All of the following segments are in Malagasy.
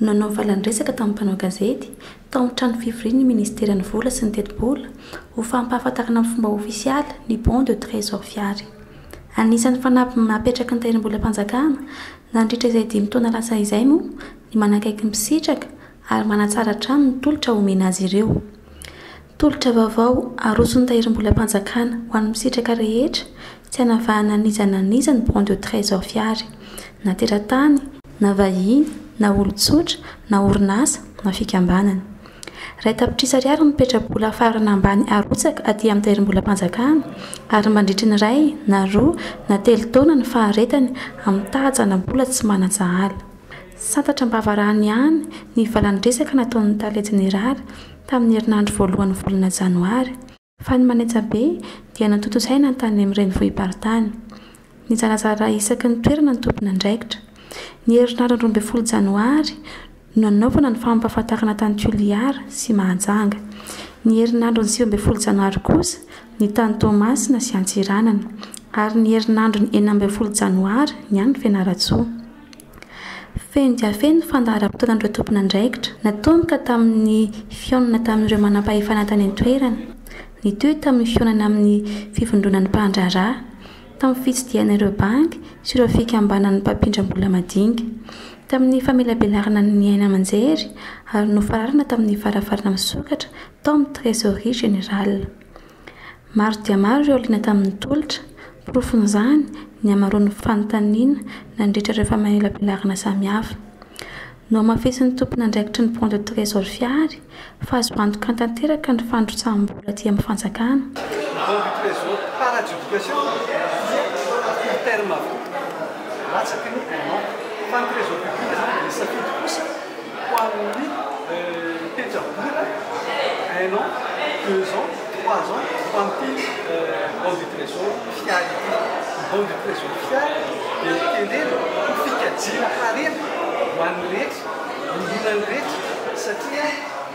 Nanao valan-dresaka tamin'ny mpanao gazety tao amin'ny trano fivorian'ny Ministeran'ny Vola sy ny Tetibola ho fampahafantarana amin'ny fomba ofisialy ny Bon de Trésor Fiary. Anisan'ny fanamby apetraky ny Tahirimbolam-panjakana nandritra izay dimy taona lasa izay moa ny manakaiky ny mpisitraka ary manatsara hatrany ny tolotra omena azy ireo. Tolotra vaovao aroson'ny Tahirimbolam-panjakana ho an'ny mpisitraka rehetra tsy hanavahana an'iza na an'iza ny Bon de Trésor Fiary, na teratany, na vahiny, na olon-tsotra, na orinasa, na fikambanana. Iray tapitrisa ariary ny petra-bola farana ambany arotsaka aty amin'ny Tahirimbolam-panjakana ary mandritry ny iray na roa na telo taona ny faharetany amin'ny tahajana bola tsy manan-tsahala. Santatra am-bavarano ihany ny valan-dresaka nataon'ny Tale Jeneraly tamin'ny herinandro voalohan'ny volana janoary, fa ny manaja be dia notontosaina ny tany amin'ny renivohi-paritany. Nizarazara isaky ny toerana ny tompon'andraikitra. Ny herinandron'ny roa ambin'ny folo janoary no nanaovana ny fampahafantarana tany Toliara sy Mahajanga. Ny herinandron'ny sivy ambin'ny folo janoary kosa ny tany Toamasina sy Antsiranana, ary ny herinandron'ny enina ambin'ny folo janoary ny any Fianarantsoa. Feno dia feno ny fandaharam-potoanan'ireo tompon'andraikitra, natomboka tamin'ny fihaonana tamin'ireo manampahefana tany an-toerana, nitohy tamin'ny fihaonana amin'ny fivondronan'ny mpandraharaha, tamin'ny fitsidihana ireo banky sy ireo fikambanan'ny mpampindram-bola madinika, tamin'ny famelabelarana ny haino aman-jery ary nofararana tamin'ny varavarana misokatra tao amin'ny Trésorerie Générale. Maro dia maro ireo liana tamin'ny tolotra. Porofon'izany ny hamaroan'ny fanontaniana nandritra ireo famelabelarana samihafa. Nohamafisin'ny tompon'andraikitry ny Banque de Trésor Fihary fa azo antoka tanteraka ny fandrotsaham-bola aty amin'ny fanjakana. Ho an'ny pejam-bola, un an, deux ans, trois ans, ho an'ity Banque du Trésor Fialy ity. Ny Banque du Trésor Fialy dia tenenina ho fikajiana harena ho an'ny rehetra, ny olona rehetra satria.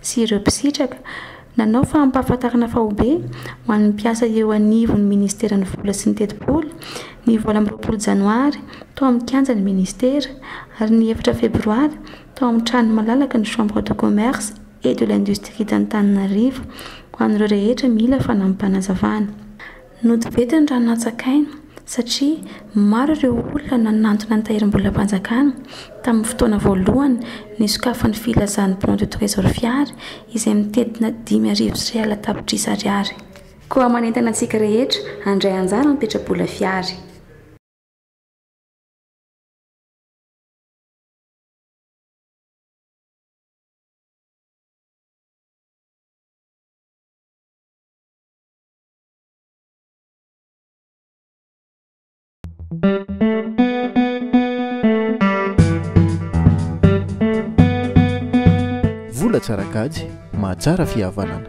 sy ireo mpisitraka, nanao fampahafantarana faobe ho an'ny mpiasa eo anivon'ny Ministeran'ny Vola sy ny Tetibola, ny valo amby roapolo Janoary, tao amin'ny kianjan'ny Ministera, ary ny efatra Febroary, tao amin'ny tranon'ny malalaky ny Chambre de Commerce et de l'Industrie d'Antananarivo, ho an'ireo rehetra mila fanampim-panazavana. Nody be teny Ranonantsakaina satria maro ireo olona nanantona ny tahirim-bolam-panjakana tamin'ny fotoana voalohany nisokafan'ny filazan'ny Bon de Trésor Fiary izay mitentina dimy arivo sy real tapitrisa ariary. Koa manentana antsika rehetra handray anjara amin'ny petra-bola Fiary. Vola tsara kajy mahatsara fihavanana.